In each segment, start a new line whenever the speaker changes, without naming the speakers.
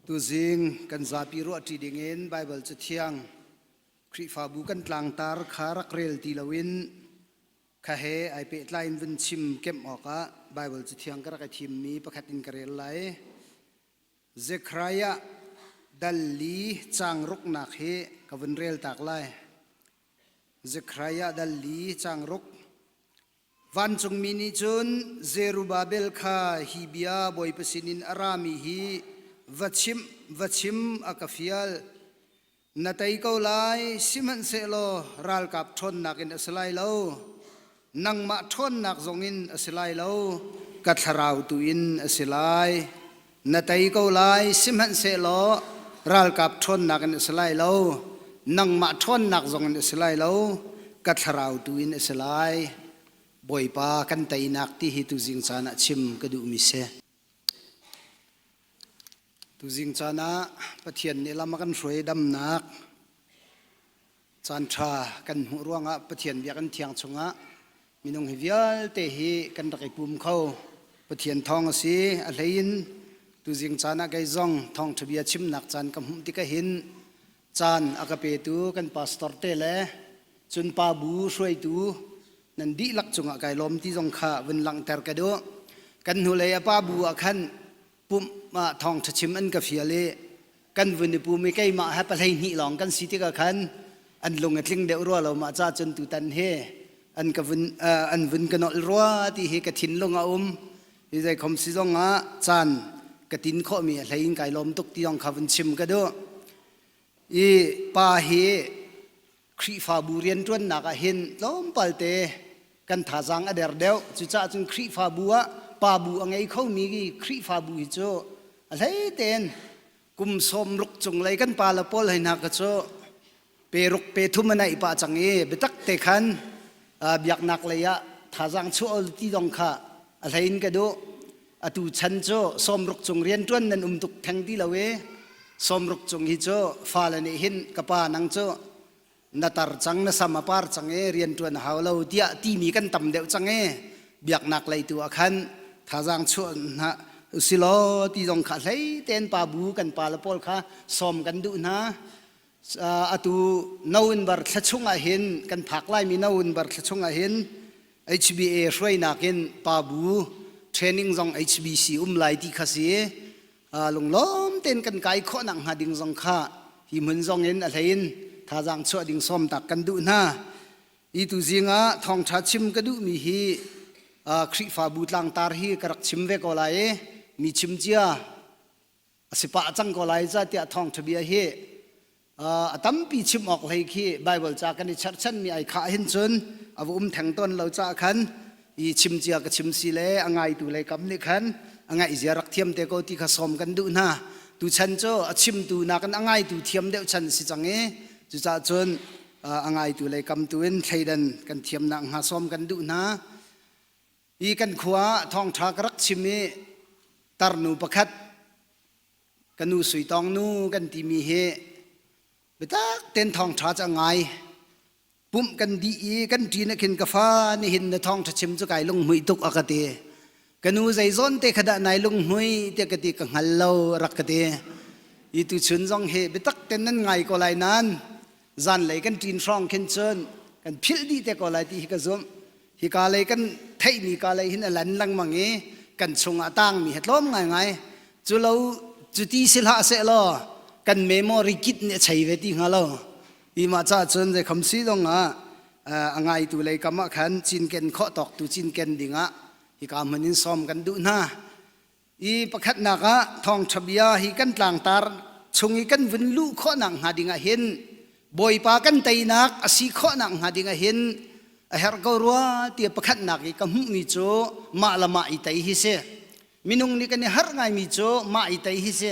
Tuzing kan zapi ruahṭi dingin Baibal Cathiang Khrihfabu kan tlangtar kha rak rel ti loin kha he ai pehtlai in vun chim kemh awkah Baibal Cathiang ka rak i thimmi pakhat in ka rel lai. Zekhariah dal li changruknak hi ka vun reltak lai. Zekhariah dal li changruk Vancungmi nih cun Zerubabel kha hi bia bawipa sinin a rami hi va chim va chim a ka fial na tei ko lai sihmanhsehlaw ralkap ṭhawnnak in a si lai lo nangmah ṭhawnnak zongin a si lai lo ka thlarau tu in a si lai na tei ko lai sihmanhsehlaw ralkap ṭhawnnak in a si lai lo nangmah ṭhawnnak zong in a si lai lo ka thlarau tu in a si lai bawipa kan teinak ti hi tuzing caan ah chim ka duhmi si tuzing caan ah pathian nih lam a kan hruai damnak Caanṭha kan hmuh ruangah Pathian biakinn thiang chungah minung hi vialte hi kan rak i pum kho. Pathian thawng a si. A hleiin tuzing caan ah kei zong thawngṭha bia chimnak caan ka hmuh tikah hin caan a ka petu kan pastor te le cunpa bu hruaitu nan dihlak cungah kai lawm ti zong kha vun langhter ka duh. Kan hnulei a pa bu ah khan pumh ah thawngṭha chim an ka fial i kan vun i pum i keimah he pahlei hnih lawng kan si tikah khan an lung a tling deuh rua lo mah ca cun tutan hi an ka vun an vun ka nolh rua ti hi ka thinlung a um hi zeikhom si zong ah caan ka tin khawhmi a hlei in kai lawm tuk ti zong kha vun chim ka duh i pa hi Khrihfabu rianṭuannak ah hin tlawmpalte kan thazaang a der deuh. Cucaah cun Khrihfabu ah pa bu a ngei khomi Khrihfabu hi cu a hlei tein kum sawm ruk cunglei kan pale pawl hei hna kha cu pe ruk pe thum a naih pah cang i biatak te khan biaknak lei ah thazaang chuah ti dong kha a hlei in ka duh. atu chan cu sawmruk cung rian ṭuan nan um tuk theng ti lo i sawmruk cung hi cu fale nih hin ka pa nang cu na tar cang na sam a par cang e rian ṭuan a hau lo tiah timi kan tam deuh cang e biaknak lei tu ah khan thazaang chuah hna usilaw ti zong kha hlei tein pa bu kan pa le pawl kha sawm kan duh hna atu no in bar thla chung ah hin kan phak laimi no in bar thla chung ah hin HBA hruainak in pabu training zong HBC um lai ti kha si lunglawm tein kan kai khawh nak hnga ding zong kha hi hmun zong in a hlein thazaang chuah ding sawm tak kan duh hna i tu zing ah thawngtha chim ka duh mi hi Khrihfabu tlangtar hi ka rak chim ve ko lai i mi chim cia a si pah cang ko lai ca tiah thawngṭhabia hi a tampi chim awk hlei khi Baibal ca kan i cherhchanmi ai khah hin cun a va um theng tawn lo caah khan i chim cia ka chim si le a ngaitu lei kam nih khan a ngaih zia rak thiam te ko ti kha sawm kan duh hna tu chan cu a chimtu nakin a ngaitu thiam deuh chan si cang i cucaah cun a ngaitu lei kam tu in thleidan kan thiam nak hnga sawm kan duh hna Hi kan khua thawngṭha ka rak chim i tarnu pakhat ka nu suitawng nu kan timi hi bitak ten thawngṭha cu a ngai pumh kan dih i kan ṭi na khin ka fa nihin na thawngṭha chim cu kai lunghmuih tuk a ka ti ka nu zei zawn te khadah nai lunghmui tiah ka ti ka hngal lo rak ka ti i tu chun zong hi bitak ten nan ngai ko lai nan zan lei kan ṭin hrawng khin cun kan philh dih te ko lai ti hi ka zumh Hika lei kan theihmi ka lei hin a lan lengmang i kan chungah tangmi he tlawm ngaingai. Cu lo cu ti si hlah seh law kan memo rikit nih a chei ve ti hnga lo. Hi mah ca cun zei kham si zong ah a ngaitu lei kam ah khan cinken khawh tawk tu cinken ding ah hika hman in sawm kan duh hna. i pakhatnak ah thawngṭha bia hi kan tlangtar chung i kan vun luh khawhnak hnga dingah hin bawipa kan teinak a si khawhnak hnga dingah hin a herh ko rua tiah pakhatnak i ka hmuhmi cu mah le mah i tei hi si minung nih kan i harh ngaimi cu mah i tei hi si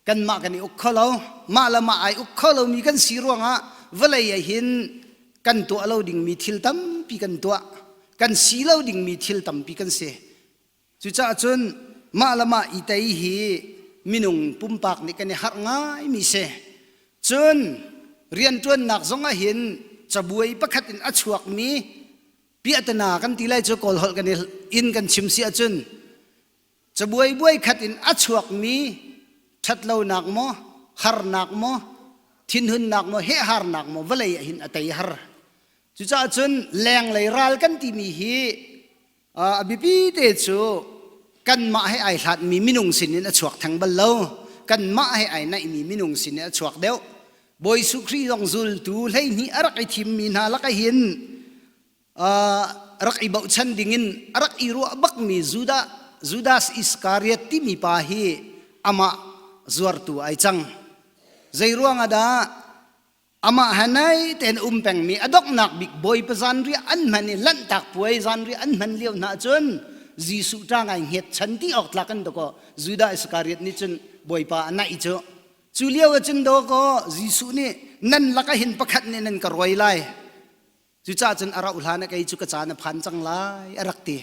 kanmah kan i uk kho lo mah le mah ai uk kho lomi kan si ruangah vawlei ah hin kan tuah lo dingmi thil tampi kan tuah kan si lo dingmi thil tampi kan si Cucaah cun mah le mah i tei hi minung pumpak nih kan i harh ngaimi si. Cun rianṭuannak zong ah hin cabuai pakhat in a chuakmi piahtana kan ti lai cu Kawl holh kan i in kan chim si ahcun cabuai buai khat in a chuakmi ṭhatlonak maw harnak maw thinhunnak maw hehharnak maw vawlei ah hin a tei har. Cucaah cun lenglei ral kan timi hi a biapite cu kanmah he ai hlatmi minung sinin a chuak theng bal lo kanmah he ai naihmi minung sinin a chuak deuh Bawi Suh Khrih zong zultu hleihnih a rak i thimmi hna lakah hin rak i bochan dingin a rak i ruah bakmi Judah Judas Iscariot timi pa hi amah zuartu ai cang. Zei ruangah dah amah ha nai tein um pengmi a donghnak bik bawipa zan ri an hman i lanhtak puai zan ri an hman lio hna cun Jesuh ta ngai nget chan ti awk tlak an dawko Judah Iskariot nih cun bawipa a naih cu cu lio ah cun dawko Jesuh nih nan laka hin pakhat nih nan ka ruai lai Cucah cun a rauh hlan a kei cu ka caan a phan cang lai, a rak ti.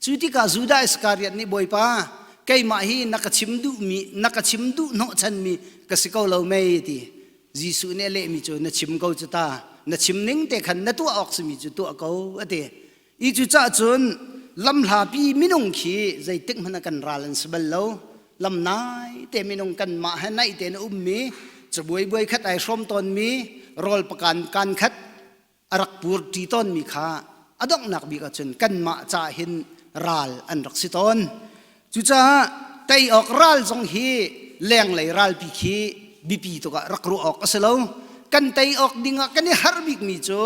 Cu tikah Judah Iskariot nih, Bawipa, keimah hi na ka chim duhmi, na ka chim duh hnawhchanmi ka si ko lo mei? ti. Jesuh nih a lehmi cu, Na chim ko cu ta, na chim ning te khan na tuah awk simi cu tuah ko, a ti. I cucah cun lamhlapi minung khi zeitik hmanh ah kan ral an si bal lo, lam nai te minung kanmah he naih tein um mi cabuai buai khat ai hrawm tawn mi rawl pakan kan khat arak pur ṭi tawn mi kha adonghnak bik ah cun kanmah ca hin ral an rak si tawn cucaah tei awk ral zong hi lenglei ralpi khi bipi tuk ah rak ruah awk a si lo kan tei awk ding ah kan i har bik mi cu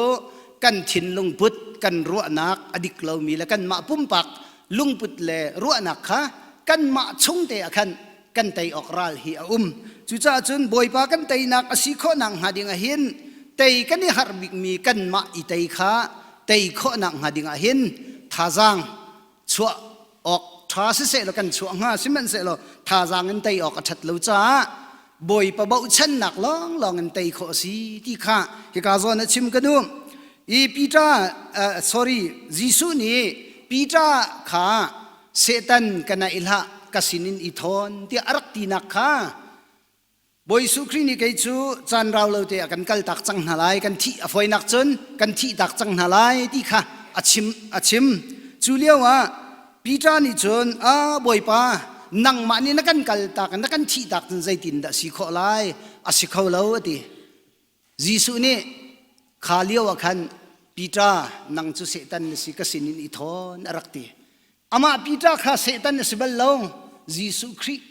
kan thinlung put kan ruahnak a dik lo mi le kanmah pumpak lungput le ruahnak kha kanmah chungte ah khan kan tei awk ral hi a um cucaah cun bawipa kan teinak a si khawhnak hnga ding ah hin tei kan i harh bikmi kanmah i tei kha tei khawhnak hnga ding ah hin thazaang chuah awk ṭha sisehlaw kan chuah hnga sihmanhsehlaw thazaang in tei awk a ṭhat lo caah bawipa bochannak lawnglawng in tei khawh a si ti kha hika zawn a chim ka duh i Peter uh, sorry Jesuh nih Peter kha Satan kana i hlah ka sinin i thawn tiah a rak tinak kha Bawi Jesuh Khrih nih kei cu caan rau lo te ah kan kal tak cang hna lai kan thih a foinak cun kan thih tak cang hna lai ti kha a chim a chim cu lio ah Peter nih cun a Bawipa nangmah nih na kan kal tak na kan thih tak cun zeitin dah si khawh lai a si kho lo a ti Jesuh nih kha lio ah khan Peter nang cu Satan na si ka sin in i thawn a rak ti. Amah Peter kha Satan na si bal lo. Jesuh Khrih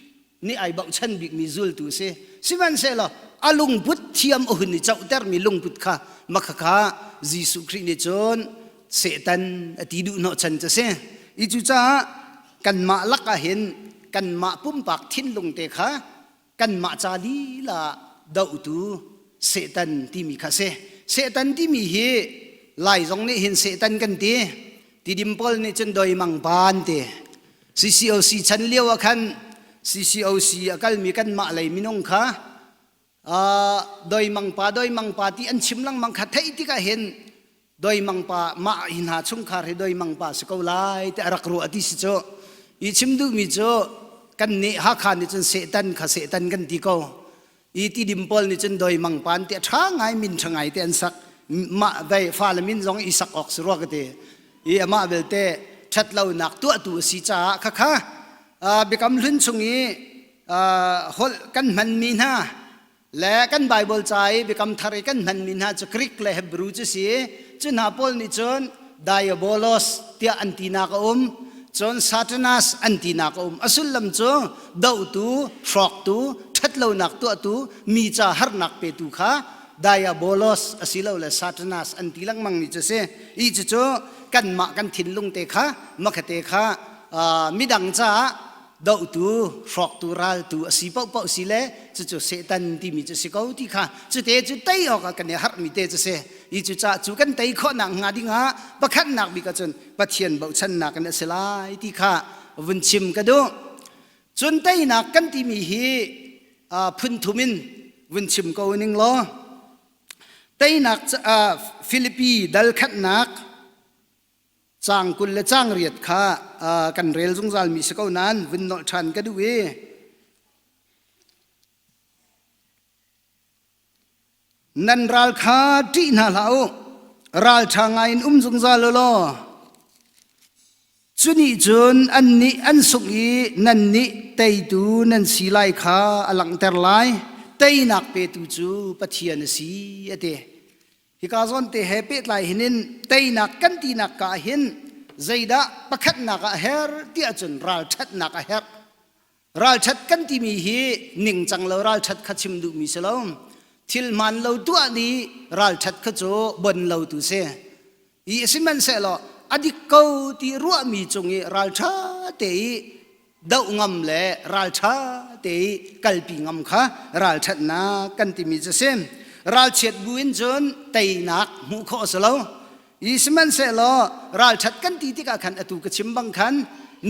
nih ai bochan bikmi zultu a si. Sihmanhsehlaw a lungput thiam a hun i cohtermi lungput kha makhakha Jesuh Khrih nih cun Satan a ti duh hnawhchan cu a si. I cucaah kanmah lakah hin kanmah pumpak thinlung te kha kanmah ca lila dohtu Satan timi kha si. Satan timi hi lai zong nih hin Satan kan ti. Tidim pawl nih cun doi mang pan ti. CCOC chan lio ah khan CCOC a kalmi kanmah lei minung kha doi mang pa doi mang pa ti an chim langmang kha theih tikah hin doimangpa mah hi hna chungkhar hi doimangpa si ko lai ti a rak ruah ti si cu i chim duhmi cu kan nih hakha nih cun setan kha setan kan ti ko i tidim pawl nih cun doimangpan ti a ṭha ngai min ṭha ngai te an sak mah dai fale min zong i sak awk si rua ka ti i amah belte ṭhat lonak tuahtu a si caah khakha biakam hlun chung i holh kan hmanmi hna Le kan Bible ca i biakam thar i kan hmanmi hna cu Greek le Hebrew cu si. Cu hna pawl nih cun diabolos tiah an tinak a um. Cun Satanas an tinak a um. A sullam cu dohtu, hrawktu, ṭhatlonak tuahtu, mi ca harnak petu kha diabolos asilole Satanas an ti lengmangmi cu si. Ih cucu kanmah kan thinlung te kha, makhate kha, midang caah dohtu hrawktu raltu a si paohpaoh si le cucu Satan timi cu si ko ti kha cu te cu tei awk ah kan i harhmi te cu si i cu cah cu kan tei khawhnak hnga ding ah pakhatnak bik ah cun Pathian bochannak in a si lai ti kha vun chim ka duh cun teinak kan timi hi phunthum in vun chim ko ning law teinak Filipi dal khatnak Cang kul le cang riat kha uh, kan rel zungzal mi si ko nan vun nolh ṭhan ka duh i nan ral kha ṭih hna hlah u ral ṭha ngai in um zungzal u law cuni cun an nih an sungh i nan nih teitu nan si lai kha a langhter lai teinak petu cu pathian a si a ti hika zawnte he pehtlai hin in teinak kan tinak ka ah hin zeidah pakhatnak ah her ti ahcun ralṭhatnak a herh ralṭhat kan timi hi ningcang lo ralṭhat kha chim duhmi si lo thil hmaan lo tuah ni ralṭhat kha cu bon lo tu si i sihmanhsehlaw a dik ko ti ruahmi cung i ralṭha te i doh ngam le ralṭha te i kalpi ngam kha ralṭhatnak kan timi cu si ralchiat bu in cun teinak hmuh khawh a si lo i sihmanhsehlaw ralṭhat kan ti tikah khan atu ka chim bang khan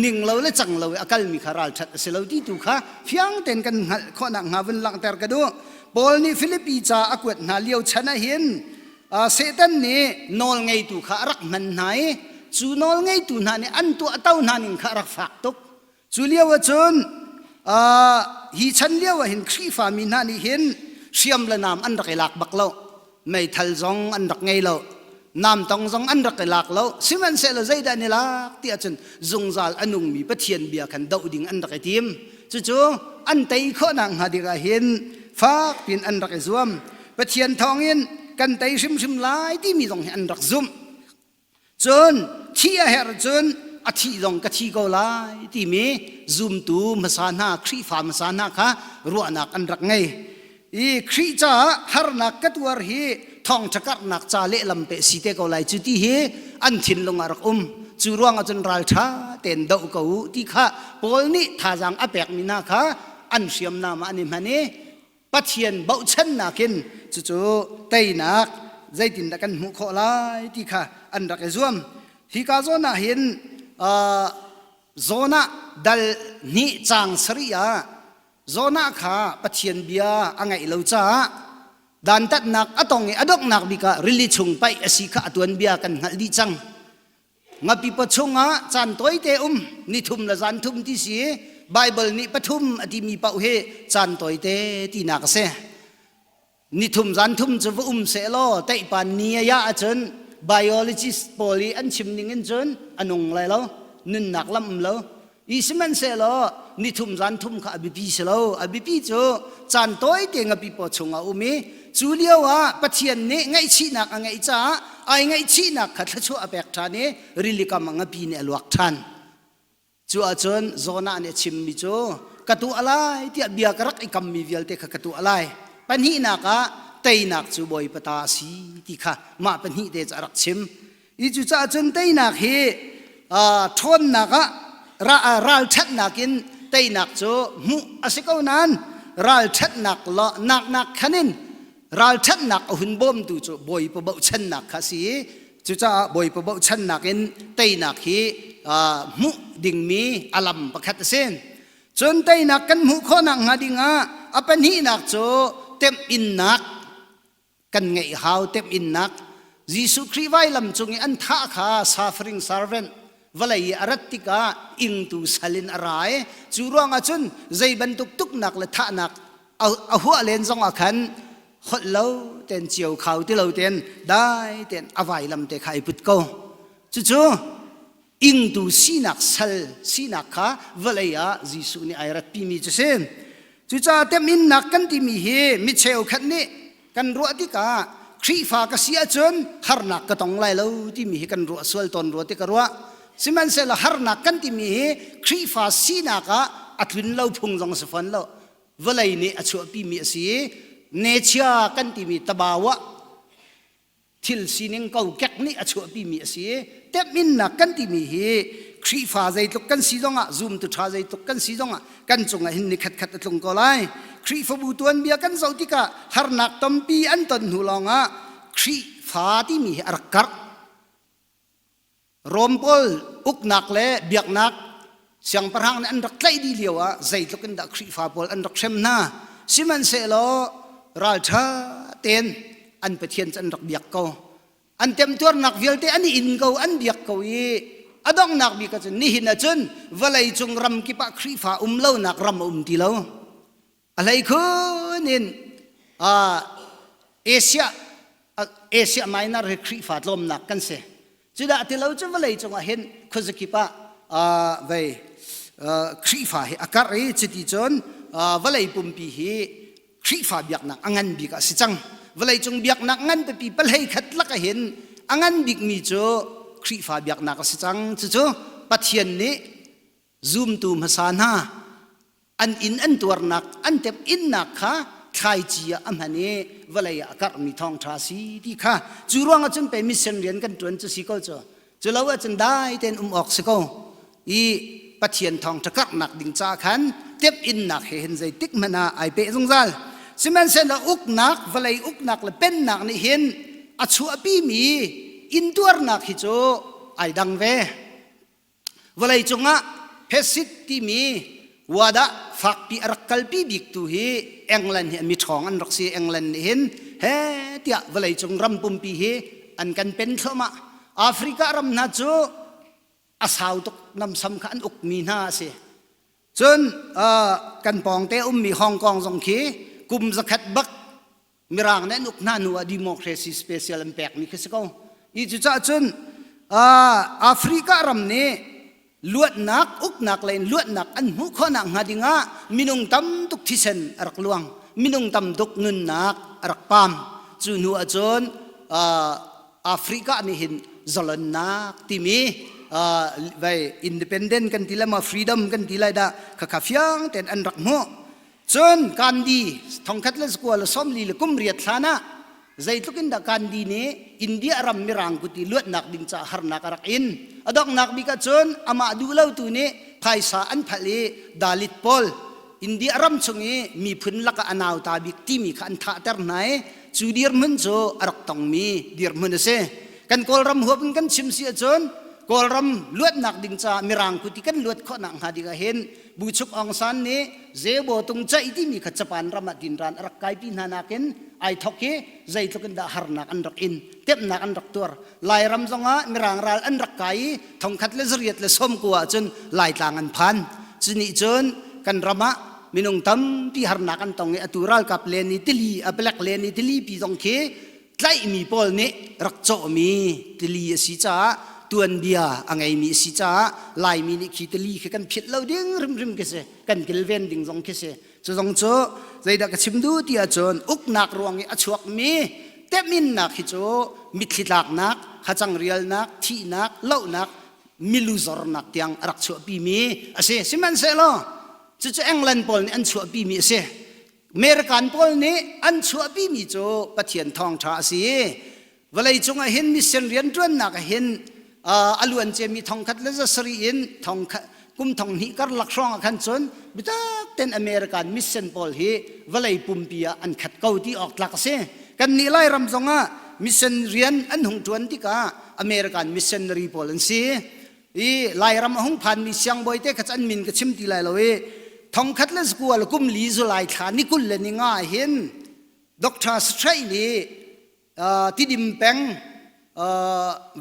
ning lo le cang lo i a kalmi kha ralṭhat a si lo ti tu kha fiang tein kan hngalh khawhnak hnga vun langhter ka duh Paul nih Filipi ca a kuat hna lio chan ah hin Satan nih nawlngeitu kha a rak hman hna i cu nawlngeitu hna nih an tuah to hna ning kha a rak fak tuk. Cu lio ah cun hi chan lio ah hin Khrihfa mi hna nih hin hriam le nam an rak i lak bak lo. Meithal zong an rak ngei lo. Namtong zong an rak i lak lo. Sihmanhsehlaw zeidah ni lak tiah cun zungzal a nungmi Pathian bia khan doh ding an rak i tim. Cucu an tei khawh nakhnga ding ah hin fak piin an rak i zuam. Pathian thawngin kan tei hrimhrim lai timi zong hi an rak zumh cun thi a herh cun a thih zong ka thi ko lai timi zumtu hmasa hna Khrihfa hmasa hna kha ruahnak an rak ngei i Khrih caah harnak ka tuar hi thawngṭha karhnak ca lehlam pe si te ko lai cu ti hi an thinlung ah rak um cu ruangah cun ralṭha tein doh ko u ti kha Paul nih thazaang a pekmi hna kha an hriamnam ah an i hman i Pathian bauhchannak in cucu teinak zeitindah kan hmuh khawh lai ti kha an rak i zuam. Hi ka zawn ah hin uh, Jonah dal hnih caang sarih ah Jonah kha Pathian bia a ngaih lo caah dantatnak a tong i a donghnak bik ah rili chung paih a si kha a tuanbia kan hngalh dih cang. ngapipa chungah caan tawite um nithum le zan thum ti si Bible nih pathum a timi pauh hi caan tawite tinak a si nithum zan thum cu va um se law teihpa ni aya ahcun biologist pawl i an chim ning in cun a nung lai lo nunnak lam um lo i sihmanhsehlaw nithum zan thum kha a biapi si lo a biapi cu caan tawite in a pipaw chung a um i cu lio ah pathian nih ngaihchihnak a ngeih caah ai ngaihchihnak kha thluachuah a pek ṭhan i rilikam a ngapi nih a luak ṭhan cu ahcun Jonah nih a chimmi cu ka tuah lai tiah bia ka rak i kammi vialte kha ka tuah lai pahnihnak ah teinak cu bawipa ta a si ti kha mah pahnih te cu a rak chim i cucaah cun teinak hi ṭhawnnak ah ralṭhatnak in teinak cu hmuh a si ko nain ralṭhatnak naknak khan in ralṭhatnak a hun bawmtu cu bawipa bochannak kha a si i cucaah bawipa bochannak in teinak hi hmuh dingmi a lam pakhat a si cun teinak kan hmuh khawh nakhnga dingah a pahnihnak cu temhinnak kan ngeih hau tem innak Jesuh Khrih vailam cung i an thah kha suffering servant vawlei i a rat tikah ingtu sal in a ra i cu ruangah cun zei bantuk tuknak le thahnak a huah len zongah khan holh lo ten cio khau ti lo ten dai ten a vailam te kha i put ko cucu ingtu sinak sal sinak kha vawlei ah Jesuh nih ai ratpimi cu si cucaah teminnak kan timi hi mi cheukhat nih kan ruah tikah Khrihfa ka si ahcun harnak ka tong lai lo timi hi kan ruah sual tawn rua ti ka ruah sihmanhsehlaw harnak kan timi hi Khrihfa sinak ah a tlun lo phung zong si fawn lo vawlei nih a chuahpimi a si i nechia kan timi tabau ah thil sining kokek nih a chuahpimi a si i temhinnak kan timi hi Khrihfa zeitluk kan si zongah zum tu ṭha zeitluk kan si zongah kan cungah hin ni khatkhat a tlung ko lai Khrihfabu tuanbia kan zoh tikah harnak tampi an ton hnu lawngah Khrihfa timi hi a rak karh Rom pawl uknak le biaknak siangpahrang nih an rak tlaih dih lio ah zeitluk in dah Khrihfa pawl an rak hrem hna sihmanhsehlaw ralṭha tein an Pathian cu an rak biak ko an temtuarnak vialte an in ko an biak ko i a donghnak bik ahcun nihin ahcun vawlei cung ram kip ah Khrihfa um lonak ram a um ti lo Alei khun in Asia Asia Minor hi Khrihfa tlawmnak kan si. Cudah ti lo cu vawlei cungah hin khuazakip ah vei Khrihfa hi a karh i cuti cun vawlei pumpi hi Khrihfa biaknak a ngan bik ah si cang. Vawlei cung biaknak ngan pipi palhei khat lak ah hin a ngan bikmi cu Khrihfa biaknak a si cang. Cucu Pathian nih zumtu hmasa hna an inn an tuarnak an tep innak kha thlaici ah a hman i vawlei ah a karhmi thawngṭha si ti kha cu ruang ahcun pei mission rian kan ṭuan cu si ko cu cu lo ahcun dai tein um awk si ko i pathian thawngṭha karhnak ding ca khan tep innak he hin zeitik hmanh ah ai pe zungzal sihmanhsehlaw uknak vawlei uknak le pennak nih hin a chuahpimi intuarnak hi cu ai dang ve vawlei cungah hesit timi wadah fakpi a rak kalpi bik tu hi England hi mi ṭhawng an rak si England nih hin he tiah vawleicung ram pumpi hi an kan pen thluahmah Africa ram hna cu a sau tuk namsam kha an ukmi hna a si cun kan pawngte ummi Hong Kong zong khi kum zakhat bak mirang nih nuk hna nu ah democracy special an pekmi khi si ko i cucah cun africa ram nih luatnak uknak le in luatnak an hmuh khawhnak hnga dingah minung tam tuk thisen a rak luang minung tam tuk nunnak a rak pam cu hnu ahcun africa nih hin zalonnak timi vai independent kan ti le ma freedom kan ti lai dah khakha fiang ten an rak hmuh cun gandhi thongkhat le skua le somli le kum riat hlan ah zeitluk in dah gandhi nih india ram mirang kuti luatnak ding caah harnak a rak in a donghnak bik ah cun amah duhlotu nih phaisa an phalh i dalit pawl india ram chung i miphun laka a nauta bik timi kha an thahter hna i cu dirhmun cu a rak tongmi dirhmun a si kan kawlram huap in kan chim si ahcun kawlram luatnak ding caah mirang kuti kan luat khawhnak hnga ding ah hin Bu Chuk Aung San nih Zebo tung caih timi kha Japan ram ah tin ran a rak kai pi hna nakin ai thok hi zeitluk in dah harnak an rak in temnak an rak tuar lairam zongah mirang ral an rak kai i thongkhat le zariat le somku ahcun laitlang an phan cuni cun kan ram ah minung tampi harnak an tong i atu ralkap le ni tili a black le ni tili pi zong khi tlaihmi pawl nih rak cawhmi tili a si caah tuanbia a ngeimi a si caah laimi nih khi tili khi kan philh lo ding rimrim khi si kan kilven ding zong khi si cu zong cu zeidah ka chim duh ti ahcun uknak ruang i a chuakmi teminnak hi cu mitthlitlaknak hacang rialnak thihnak lohnak miluzornak tiang a rak chuahpimi a si sihmanhsehlaw cucu england pawl nih an chuahpimi a si American pawl nih an chuahpimi cu Pathian thawngṭha a si i vawlei cungah hin mission rianṭuannak ah hin a luanciami thongkhat le za sarih in thongkhat kum thong hnih karlak hrawngah khan cun bitak ten American mission pawl hi vawlei pumpi ah an khat ko ti awk tlak a si. Kannih Lairam zongah mission rian an hung ṭuan tikah American missionary pawl an si. i lairam a hung phanmi siangbawi te kha an min ka chim ti lai lo i thongkhat le skual kum li zulai thla ni kul le ni nga hin doctor straight nih tidim peng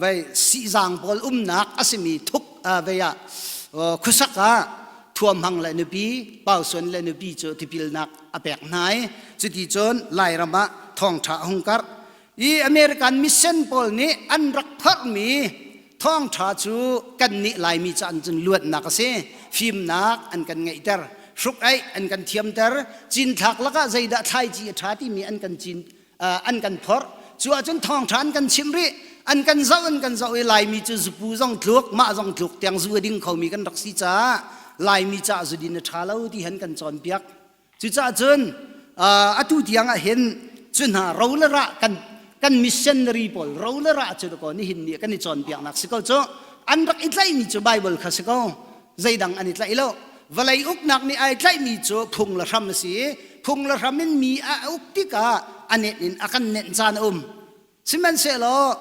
vei sihzang pawl umnak a simi thuk vei ah khusak ah thuam hang le nupi pausuan le nupi cu tipilnak a pek hna i cuti cun lairam ah thongtha a hung karh i American mission pawl nih an rak phorhmi thawngṭha cu kan nih Laimi ca in cun luatnak a si fimnak an kan ngeihter hruk aih an kan thiamter cinthlak lakah zeidah thlaici a ṭha timi an kan cin an kan phorh cu ahcun thawngṭha an kan chimh rih an kan zoh an kan zoh i Laimi cu zupu zong tluk mah zong tluk tiang zu a ding khomi kan rak si caah Laimi caah zudin a ṭha lo ti han kan cawnpiak Cucah cun atu tiang ah hin cu hna ro le ra kan kan missionary pawl ro le ra cu ko nihin ni kan i cawnpiaknak si ko cu an rak i tlaihmi cu Baibal kha si ko zeidang an i tlaih lo vawlei uknak nih ai tlaihmi cu phung le hram a si i phung le hram in mi a uk tikah a nenh in a kan nenh caan a um sihmanhsehlaw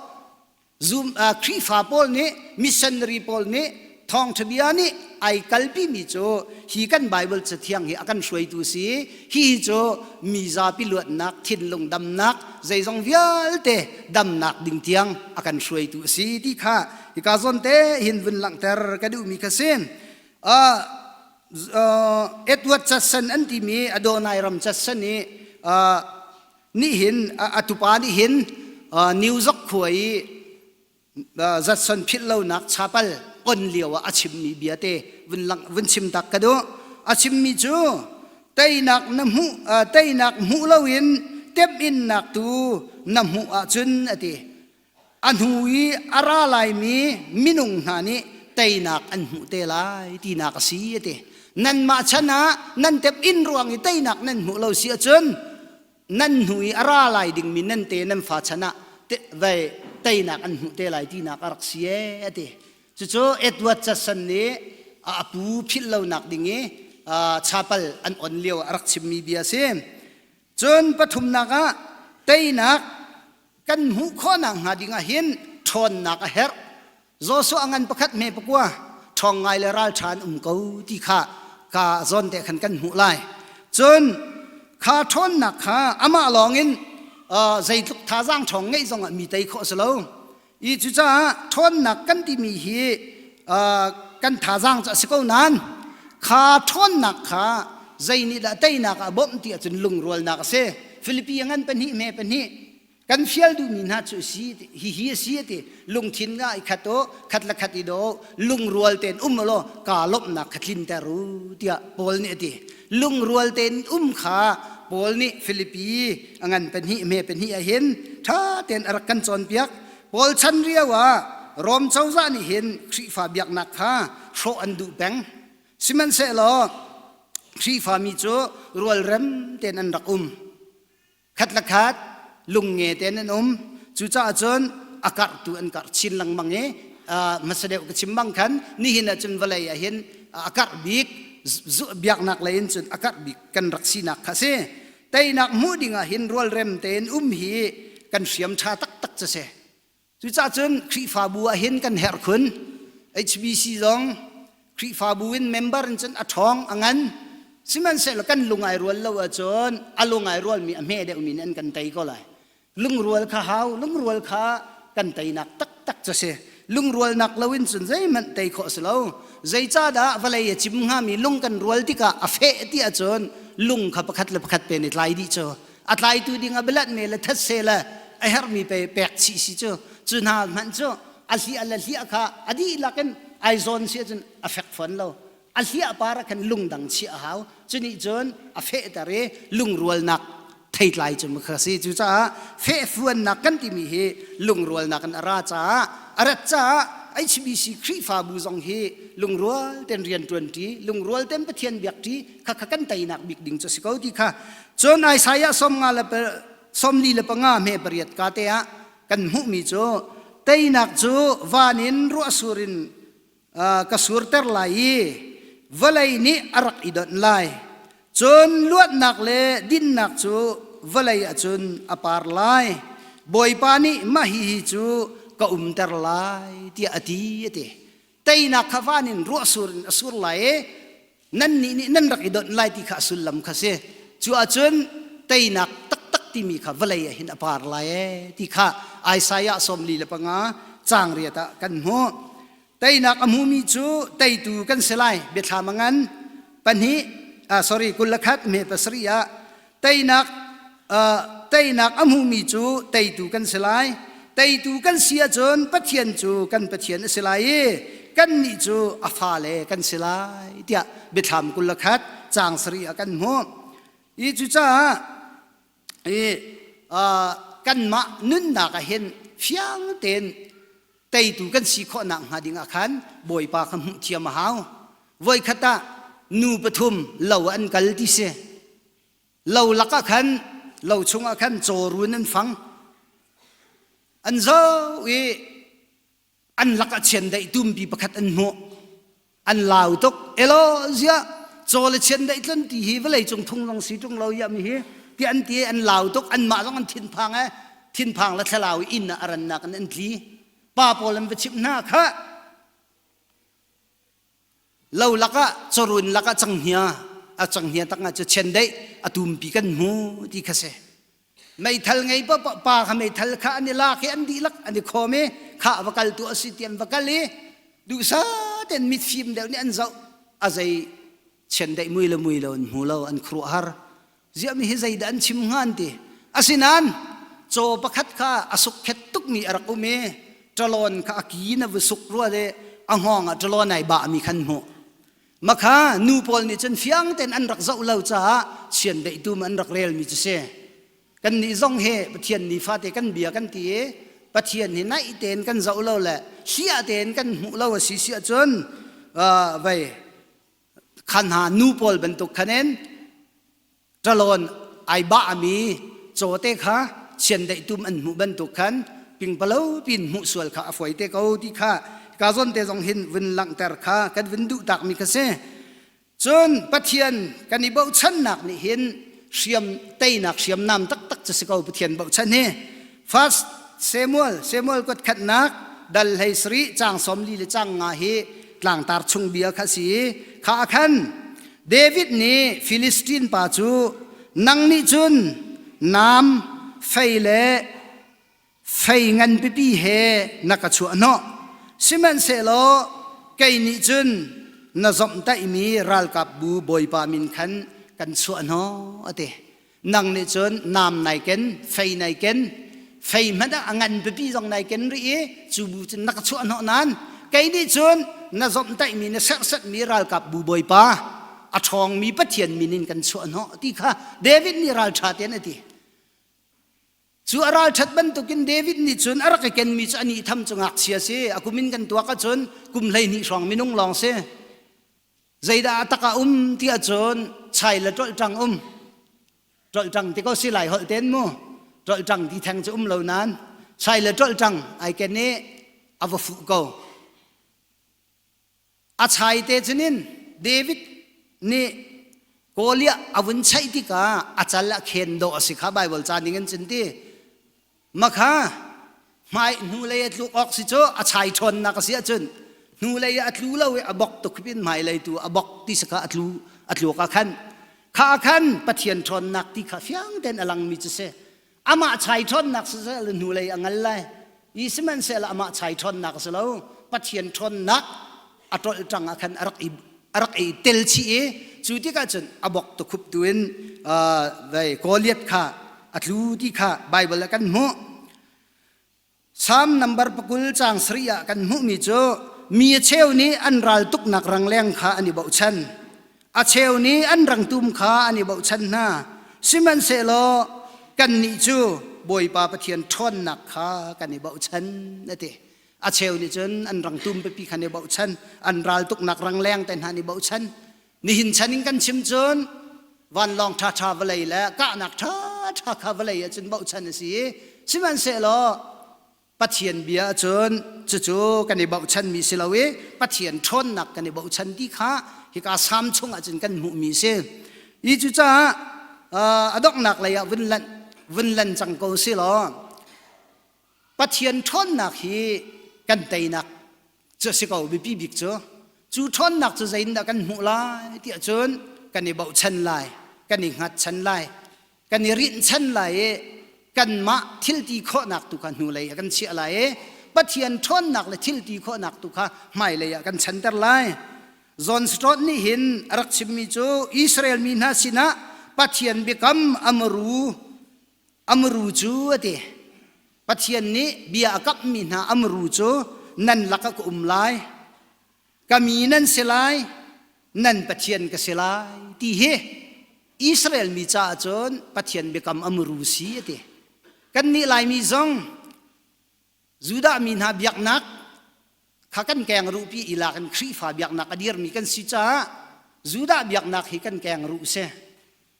Zoom uh, Khrihfa pawl nih missionary pawl nih thawngṭha bia nih ai kalpi mi cu hi kan Bible cathiang hi a kan hruaitu si hi cu mi zapi luatnak thinlung damnak zeizong vialte damnak ding tiang a kan hruaitu a si ti kha hika zawn te hin vun langhter ka duhmi kha si uh, uh, Edward Church an timi Adonai ram Church i uh, nih hin atupa nih hin new zok khua i zatson philh lonak chapal on lio ah a chimmi biate vun lang vun chim tak ka duh a chimmi cu teinak na hmuh teinak hmuh loin temhinnak tu na hmuh ahcun ati a hnu i a ra laimi minung hna nih teinak an hmuh te lai tinak a si a ti nanmah chan ah nan tep in ruang i teinak nan hmuh lo si ahcun nan hnu i a ra lai dingmi nan te nan fa chan ah te, vei teinak an hmuh te lai tinak a rak si e a ti cucu edward judson nih a apu philh lonak ding i chapal an on lio a rak chimmi bia a si cun pathumnak ah teinak kan hmuh khawhnak hnga ding ah hin ṭhawnnak a herh Joshua ngan pakhat hme pakua ṭhawng ngai le ral ṭha an um ko ti kha ka zawn te khan kan hmuh lai cun kha ṭhawnnak kha amah lawng in zeitluk thazaang ṭhawng ngeih zong ah mi tei khawh a si lo i cucaah ṭhawnnak kan timi hi kan thazaang cu a si ko nain kha ṭhawnnak kha zei nih dah teinak ah bawmh ti ahcun lungrualnak a si Filipi a ngan pahnih me pahnih kan fial duhmi hna cu si hihi a si a ti lungthin nga i khat u khat la khat i do lungrual tein um law ka lawmhnak kha tlinter u tiah Paul nih a ti lungrual tein um kha Paul nih Filipi a ngan pahnih me pahnih ah hin ṭha tein a rak kan cawnpiak Paul chan rio ah Rom cozah nih hin Khrihfa biaknak kha hrawh an duh peng Sihmanhsehlaw Khrihfami cu rualrem tein an rak um. Khat le khat lungnge tein an um. Cucaah cun a karhtu an karh chin lengmang i hmasa deuh ka chim bang khan nihin ah cun vawlei ah hin a karh bik biaknak lei in cun a karh bik kan rak sinak kha a si. Teinak hmuh ding ah hin rualrem tein um hi kan hriam ṭha taktak cu si. Cucahcun Khrihfabu ah hin kan herh khun. HBC zong Khrihfabu in member in cun a ṭhawng a ngan. Sihmanhsehlaw kan lung ai rual lo ahcun a lung ai rualmi a hme deuhmi nih an kan tei ko lai. Lungrual kha hau, lungrual kha kan teinak taktak cu si. Lungrualnak loin cun zeihmanh tei khawh a si lo. Zeicahdah vawlei a cim hngami lung kan rual tikah a feh ti ahcun lung kha pakhat le pakhat pen i tlai dih cu a tlaitu ding a bialanh me le thatse le a herhmi pe pek si si cu cu hna hmanh cu a hliah le hliah kha a dihlak in ai zawn si cun a fek fon lo a hliah para khan lungdang chi a hau cu nih cun a fehter i lungrualnak theitlai cu mukha si cu caah fehfuannak kan timi hi lungrualnak in a ra caah a rat caah HBC Khrihfabu zong hi lungrual ten rian ṭuanṭi lungrual ten Pathian biakṭi khakha kan teinak bik ding cu si ko ti kha cun Isaiah som nga le som li le panga me pariat ka te ah kan hmuhmi cu teinak cu van in ruah surin ka surter lai i vawlei nih a rak i donh lai cun luatnak le dinnak cu vawlei acun a par lai bawipa nih mah hi cu ka umter lai tiah a ti a ti teinak kha van in ruah sur in a sur lai i nannih nih nan rak i donh lai ti kha a sullam kha si cu ahcun teinak taktak timi kha vawlei ah hin a par lai e ti kha Isaiah sawmli le panga cangriat ah kan hmuh teinak a hmumi cu teitu kan si lai biathlam a ngan pahnih ah sorry kul le khat me pasarih ah teinak teinak a hmuhmi cu teitu kan si lai teitu kan si ahcun pathian cu kan pathian a si lai i kannih cu a fale kan si lai tiah biathlam kul le khat caang sarih ah kan hmuh i cucaah i kanmah nunnak ah hin fiang tein teitu kan si khawh nakhnga dingah khan Bawipa kha hmuh thiam a hau. Voikhat ah nu pathum lo an kal ti si. Lo lakah khan lo chungah khan cawrun an fang. An zo i an lakah chiandaih tumpi pakhat an hmuh. an lau tuk elo zia chaw le chian dei tlun ti hi vawlei cung thung zong si tung lo ya mi hi ti an ti an lau tuk an mah zong an thin phang e thin phang la thlalau inn ah aran nak an an tli pa pawl an va chim hna kha lo lakah chorun lakah changhnia a changhnia takah cu chen dei atum pi kan mu ti kha se meithal ngei pa pa kha meithal kha an i lak i an dihlak an i khawm i kha va kal tu asi tian va kal i duhsat in mitfim deuh nih an zoh a zei chiandaih mui le mui lo an hmu lo an khuruah har ziami hi zeidah an chim hngan ti asinan caw pakhat kha a sukhet tukmi a rak um i ṭalon kha a ki na va suk rua le a ngawng ah ṭalon ai bah mi khan hmuh Makha nu pawl nih cun fiang tein an rak zoh lo caah chiandeihtu an rak relmi cu si. Kannih zong he Pathian nifate kan bia kan ti i Pathian hi naih tein kan zoh lo le hliah tein kan hmuh lo a si si ahcun uh, vei khan hna nu pawl bantuk khan in Ṭalon ai bahmi cawte kha chiandeihtum an hmuh bantuk khan pingpalo pin hmuh sual kha a fuai te ko ti kha ka zonte zong hin vun langhter kha kan vun duh takmi kha si cun pathian kan i bochannak nih hin hriam teinak hriamnam taktak cu si ko pathian bochan hi First Samuel Samuel kuat khatnak dal hlei sari cang som li le cang nga hi tlangtar chung bia kha si kha khan David nih Philistine pa cu nang nih cun nam fei le fei ngan pipi he na ka chuah no sihmanhsehlaw kei nih cun na zomhtaihmi ralkap bu bawipa min khan kan chuah no a ti nang nih cun nam nai ken fei nai ken fei hmanh ah a ngan pipi zong nai ken rih i cu bu cun na ka chuah hnawh nan kei nih cun na zomhtaihmi na serhsetmi ralkap bu bawipa a ṭhawngmi pathian min in kan chuah hnawh ti kha David nih ralṭha tian a ti cu a ralṭhat bantukin David nih cun a rak i kenmi cu ani tham cu ngakchia si a kumin kan tuak ahcun kum hleihnih hrawng minung lawng si Zeidah a tak a um ti ahcun chai le ṭolṭang um. Ṭolṭang ti ko si lai holh ten mu. Ṭolṭang ti theng cu um lo nan. Chai le ṭolṭang ai ken i a va fuh ko. A chai te cunin David nih Goliah a vun chaih tikah a cal a khen dawh a si kha Baibal ca ning in cun ti. Makha hmai hnulei a tlu awk si cu a chai ṭhawnnak a si ahcun hnulei a tlu lo i a bok tuk in hmailei tu a bok ti sakha a tlu a tlu ka khan kha a khan pathian ṭhawnnak ti kha fiang tein a langmi cu si amah chai ṭhawnnak si sehla hnulei a ngal lai i sihmanhsehlaamah chai ṭhawnnak a si lo pathian ṭhawnnak a tol tang ah khan a rak i a rak i tel chih i cu tikah cun a bok tukhup tu in dai Goliath kha a tlu ti kha Baibal ah kan hmuh Psalm number pakul cang sari ah kan hmuhmi cu mi a cheu nih an ral tuknak rangleng kha an i bochan a cheu nih an rangtum kha an i bochan hna sihmanhsehlaw kannih cu Bawipa Pathian ṭhawnnak kha kan i bochan a ti a cheu nih cun an rang tum pipi khan i bochan an ral tuknak rang leng te hna nih bochan nihin chan in kan chim cun vanlawng ṭha ṭha vawlei le kahnak ṭha ṭha kha vawlei ah cun bochan a si i sihmanhsehlaw pathian bia cun cucu kan i bochan mi si lo i pathian ṭhawnnak kan i bochan ti kha hika sam chung ah cun kan hmuhmi si i cucaah a donghnak lei ah vun lanh vun lan cang ko si law Pathian ṭhawnnak hi kan teinak cu a si ko biapi bik cu cu ṭhawnnak cu zeitindah kan hmuh lai tiah cun kan i bochan lai kan i hngatchan lai kan i rinhchan lai i kanmah thilti khawhnak tu kha hnulei ah kan chiah lai i Pathian ṭhawnnak le thilti khawhnak tu kha hmailei ah kan chanter lai John Stott nih hin a rak chimmi cu Israel mi hna sinah Pathian biakam a maru amru cu a ti pathian nih bia a kamhmi hna amru cu nan lak a ka um lai ka mi nan si lai nan pathian ka si lai ti hi Israel mi caah cun pathian biakam amru si a ti kannih laimi zong Judah mi hna biaknak kha kan keng ruhpi i la kan Khrihfa biaknak a dirmi kan si caah Judah biaknak hi kan keng ruh si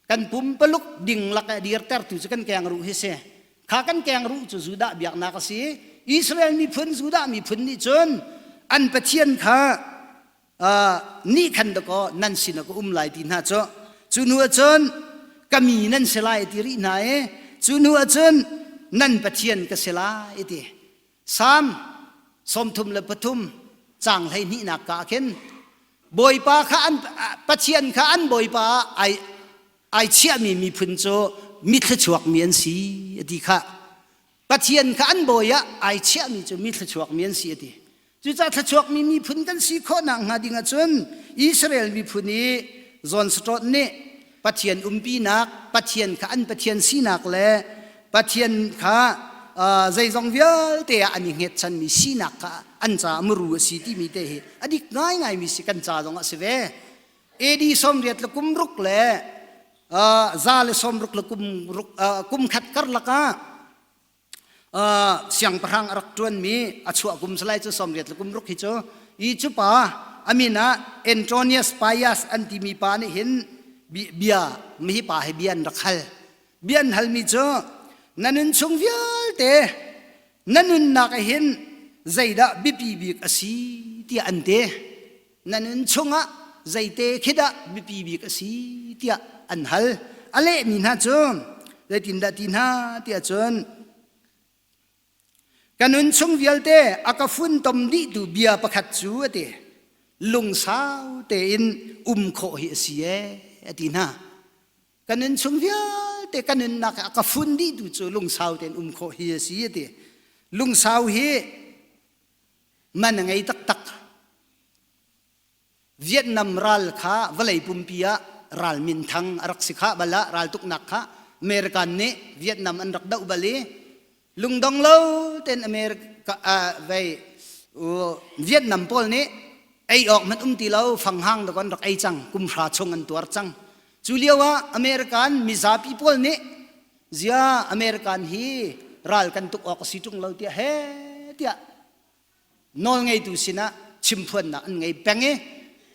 kan pumpaluk ding lak a dirtertu cu kan keng ruh hi si kha kan keng ruh cu Judah biaknak a si Israel miphun Judah miphun nih cun an pathian kha nih khan dakaw nan sinah ka um lai ti hna cu cu nu ahcun ka mi nan si lai ti rih hna i cu nu ahcun nan pathian ka si lai ti sam sawmthum le pathum cang hlei hnihnak ka khin bawipa kha an pathian kha an bawipa ai ai chiahmi miphun cu mithluchuak mi an si a ti kha Pathian kha an bawi ah ai chiahmi cu mi thluachuakmi an si a ti. Cucaah thluachuakmi miphun kan si khawhnak hnga ding ahcun Israel miphun i zawnsaṭawt nih Pathian umpinak, Pathian kha an Pathian sinak le Pathian kha zeizong vialte ah an i hngetchanmi sinak kha an caah muru a si timi te hi a dik ngaingaimi si kan ca zong ah si ve. AD somriat le kum ruk le za le somruk le kum ruk kum khat karlak ah siangpahrang a rak ṭuanmi a chuah kum salai cu somriat le kum ruk hi cu i cu pa amin ah Antronius Pius an timi pa nih hin bia mihi pa he bia an rak hal bia an halmi cu na nun chung vialte na nunnak ah hin zeidah biapi bik a si tiah an ti na nun chungah zeite khi dah mipi bik a si tiah an hal a lehmi hna cu zeitindah ti hna tiah cun ka nun chung vialte a ka funtom dihtu bia pakhat cu a ti lungsau tein um khawh hi a si e a ti hna ka nun chung vialte ka nunnak a ka fun dihtu cu lungsau tein um khawh hi a si a ti lungsau hi man a ngei taktak vietnam ral kha vawlei pumpi ah ral minthang a rak si kha bal ah raltuknak kha american nih vietnam an rak doh bal i lungdong lo ten america uh, vei uh, vietnam pawl nih ei awk man um ti lo fanghang da kon rak ei cang kumhra chung an tuar cang cu lio ah american mizapi pawl nih Zia American hi ral kan tuk awk a si ṭung lo tiah he tiah nawl ngeitu sinah chimphuannak an ngei peng i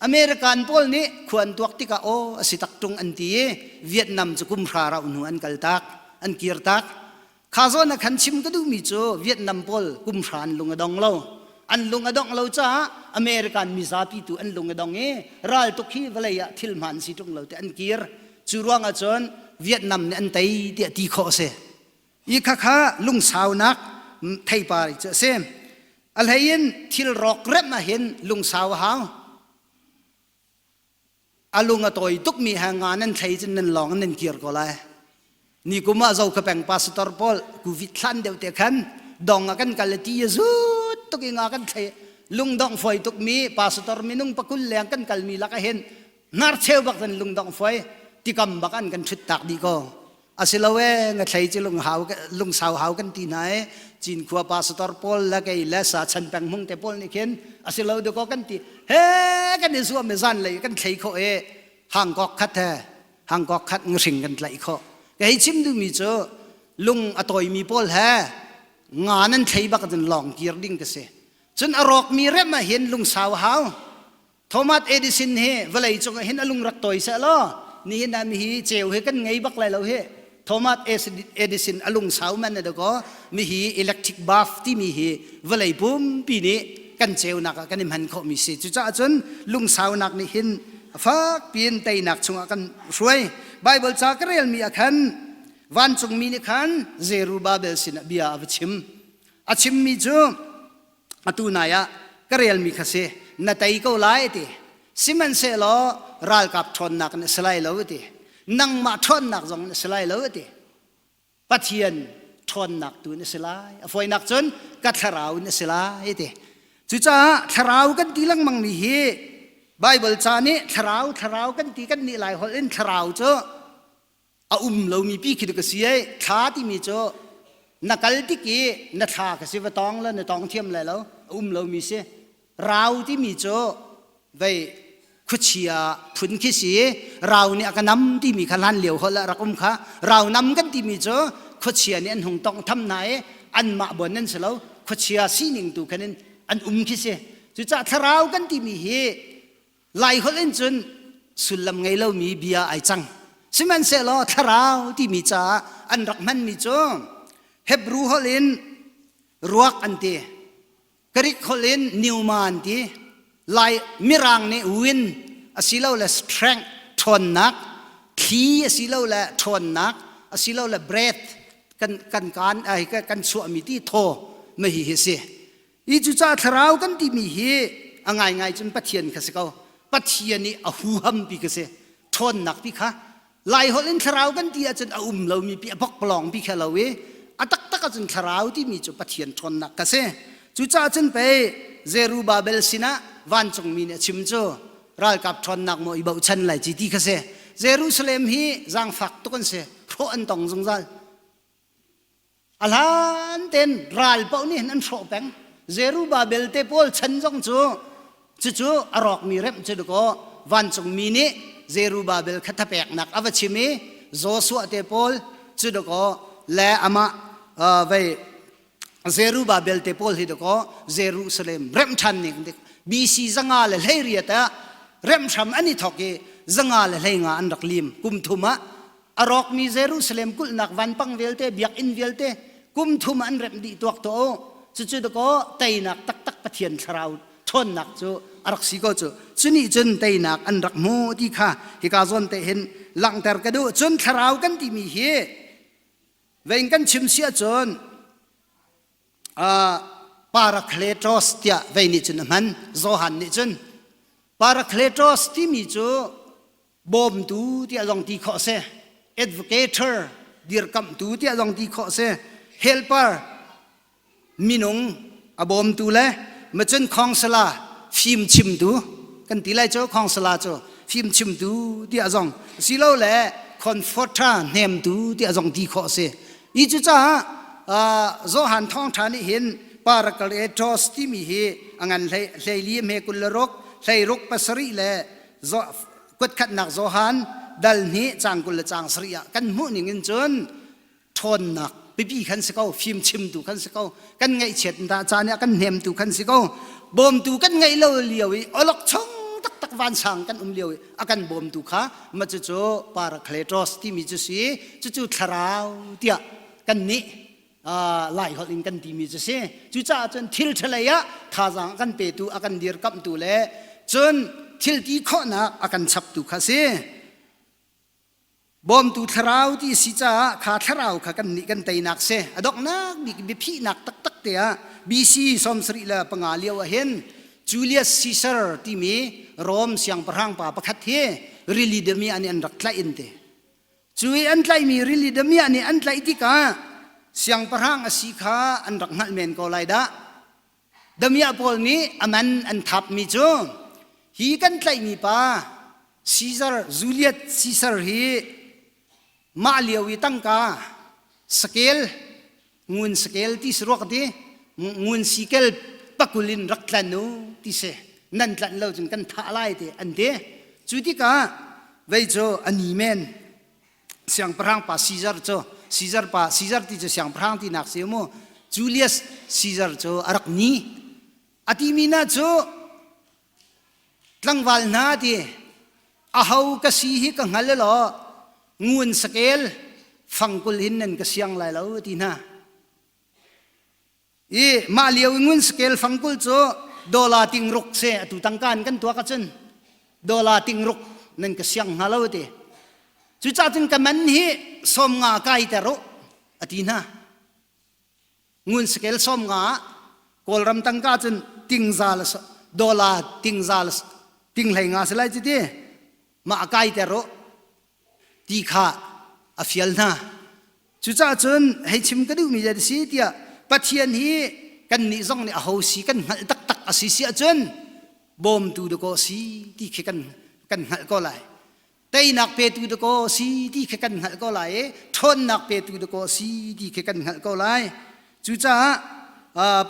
American pawl nih khuan tuak tikah aw a si tak ṭung an ti i Vietnam cu kum hra rauh hnu an kal tak an kir tak kha zawn a khan chim ka duhmi cu Vietnam pawl kum hra an lung a dong lo an lung a dongh lo caah American mizapi tu an lung a dong i raltuk hi vawlei ah thil hmaan si ṭung lo te an kir cu ruang ahcun Vietnam nih an tei tiah ti khawh a si i khakha lungsaunak theipar cu a si a hleiin thil rawk remh ahhin lungsau a hau a lung a tawi tukmi he ngan an thlei cun nan lawng in nan kir ko lai nikum ah zo ka peng pastor pawl covid hlan deuh te khan dong a kan kal le ti zut tuk in a kan thlei lungdong foi tuk mi pastor minung pakul leng kan kal mi lak a hin nar cheu bak zan lungdong foi tikam bak an kan thut tak di ko asilo e nga thlei ci lung hau lung sau hau kan ti na e cin khua pastor paul la kei le sa chan peng mung te paul ni khin asilo de ko kan ti he kan i zuam me zan lei kan thlei kho e hang kok khat he hangkok khat ngahring kan tlaih khawh ka hei chim duhmi cu lung a tawimi pawl he nga nan thlei bak cun lawng kir ding ka si cun a rawkmi rem ah hin lungsau hau thomas edison hi vawlei cung ah hin a lungrat tawi seh law nihin ah mi hi ceu hi kan ngei bak lai lo hi Thomas Edison a lungsau man a dakaw mi hi electric bath timi hi vawlei pumpi nih kan ceunak ah kan i hman khawh mi si cucaah cun lungsaunak nih hin fak piin teinak chungah kan hruai Bible ca ka relmi ah khan vancungmi nih khan Zerubabel sinah bia a va chim a chimmi cu atu nai ah ka relmi kha si na tei ko lai ti sihmanhsehlaw ralkap ṭhawnnak in a si lai lo ti nangmah ṭhawnnak zong in a si lai lo ti pathian ṭhawnnak tu in a si lai a foinak cun ka thlarau in a si lai ti cucaah thlarau kan ti lengmang mi hi Bible ca nih thlarau thlarau kan ti kan nih lai holh in thlarau cu a um lomi pi khi ka si ai thla timi cu na kal tik i na thla ka si va tong le na tong thiam le lo a um lomi si rau timi cu vei khuachia phun khi si rau nih a ka nam timi kha lan lio hol rak um kha rau nam kan timi cu khuachia nih an hung tong tham na i an mah bon nan si lo khuachia sining tu khanin an um khi si cucah thlarau kan timi hi Laiholh in cun sullam ngei lomi bia ai cang. Sihmanhsehlaw thlarau timi caah an rak hmanmi cu Hebrew holh in ruak an ti. Greek holh in pneuma an ti. Lai mirang nih wind asilole strength ṭhawnnak, thli asilole ṭhawnnak asilole breath kan kan kan chuahmi ti thaw mahi hi si. i cucaah thlarau kan timi hi a ngaingai cun pathian kha si ko pathian i a huham pi ka si ṭhawnnak pi kha laiholh in thlarau kan ti ahcun a um lomi pi a bokplawng pi kha lo i a taktak ahcun thlarau timi cu pathian ṭhawnnak ka si cucaah cun pei Zerubbabel sinah vancungmi nih a chim cu ralkap ṭhawnnak maw i bochan lai ci ti kha si Jerusalem hi zaangfak tuk an si hrawh an tong zungzal A hlan ten ral paoh nih an hrawh peng. Zerubbabel te pawl chan zong cu cucu a rawkmi remh cu dakaw vancungmi nih Zerubbabel kha thapeknak a va chim i Joshua te pawl cu dakaw le amah vei Zerubbabel te pawl hi dakaw Jerusalem remh ṭhan ning dik BC zanga le hleiriat ah remh hram an i thawk i zanga le hleinga an rak lim kum thum ah a rawkmi Jerusalem kulhnak vanpang vialte biakinn vialte kum thum an remh dih tuak to cucu dakaw teinak taktak Pathian thlarau ṭhawnnak cu a rak si ko cu cuni cun teinak an rak hmu ti kha hika zawn te hin langhter ka duh cun thlarau kan timi hi vein kan chim si cun parakletos tiah vei nih cun a hman Johan nih cun parakletos timi cu bawmtu tiah zong ti khawh si advocator dirkamhtu tiah zong ti khawh si helper minung a bawmtu le macun khawngsala fim chimtu kan ti lai cu khawngsala cu fim chimtu tiah zong silo le conforta hnemtu tiah zong ti khawh si i cu caah Johan Thawng Tha nih hin Paracletos timi hi a ngan hlei hlei li hme kul le ruk hlei ruk pasarih le kuatkhatnak Johan dal ni cang kul le cang sarih ah kan hmuh ning in cun ṭhawnnak pipi khan si ko fim chimtu kan si ko kan ngaihchiat ta caan ah kan hnemtu kan si ko bawmtu kan ngeih lo lio i olok chung taktak vansang kan um lio i a kan bawmtu kha ma cu cu parakletos timi cu si cucu thlarau tiah kan nih laiholh in kan timi cu si cucaah cun thil ṭhalei ah thazaang a kan petu a kan dirkamhtu le cun thil ti khawhnak a kan chaptu kha si bawmtu thlarau ti si caah kha thlarau kha kan nih kan teinak si a donghnak bik biaphihnak taktak te ah BC sawmsarih le panga lio ah hin Julius Caesar timi Rome siangpahrang pa pakhat hi rili demi an an rak tlaih in te Cu i an tlaihmi rili damiah nih an tlaih tikah siangpahrang a si kha an rak hngalh men ko lai dah. Damiah pawl nih a man an thapmi cu hi kan tlaihmi pa Caesar Julius Caesar hi mah lio i tangka sakel ngun sakel ti si ruak ti ngun sikel pakul in rak tlan u ti si nan tlanh lo cun kan thah lai te an ti cu tikah vei cu ani men siangpahrang pa Caesar cu Caesar pa Caesar ti cu siangpahrang ti nak si mu Julius Caesar cu a rak ni a ti mi na cu Tlangval hna ti aho ka si hi ka hngal law ngun sakel fangkul hin nan ka siang lai lo ti hna i mah lio i ngun sakel fangkul cu dola ting ruk se atu tangka in kan tuak ahcun dola ting ruk nan ka siang hna lo ti cucah cun ka man hi sawm nga kai ter u a ti hna ngun skel som nga kawlram tangka cun tingza la dollar tingza la tinghlei nga selai ci ti ma kai te ro ti kha a fial hna cucah cun hei chim ka duhmi ja si tiah pathian hi kan nih zong nih a ho si kan hngalh taktak a si si ahcun bawmtu dakaw si ti khi kan kan hngalh ko lai teinak petu dakaw si ti kha kan hngalh ko lai i ṭhawnnak petu dakaw si ti kha kan hngalh ko lai cucaah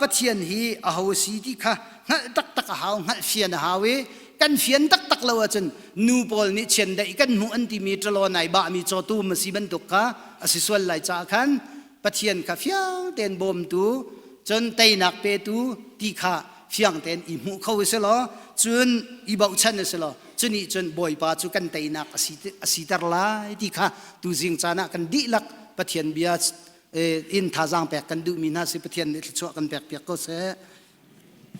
pathian hi aho si ti kha hngalh taktak a hau hngalh fian a hau i kan fian taktak lo ahcun nu pawl nih chiandeih kan hmuh an timi ṭalo nai bahmi cawtum a si bantuk kha a si sual lai caah khan pathian kha fiang tein bawmtu cun teinak petu ti kha fiang tein i hmuh kho a si law cun i bochan a si law cunih cun bawipa cu kan teinak asi asiter lai ti kha tuzing caan ah kan dihlak pathian bia in thazaang pek kan duhmi hna si pathian nih thluachuah kan pek piak ko seh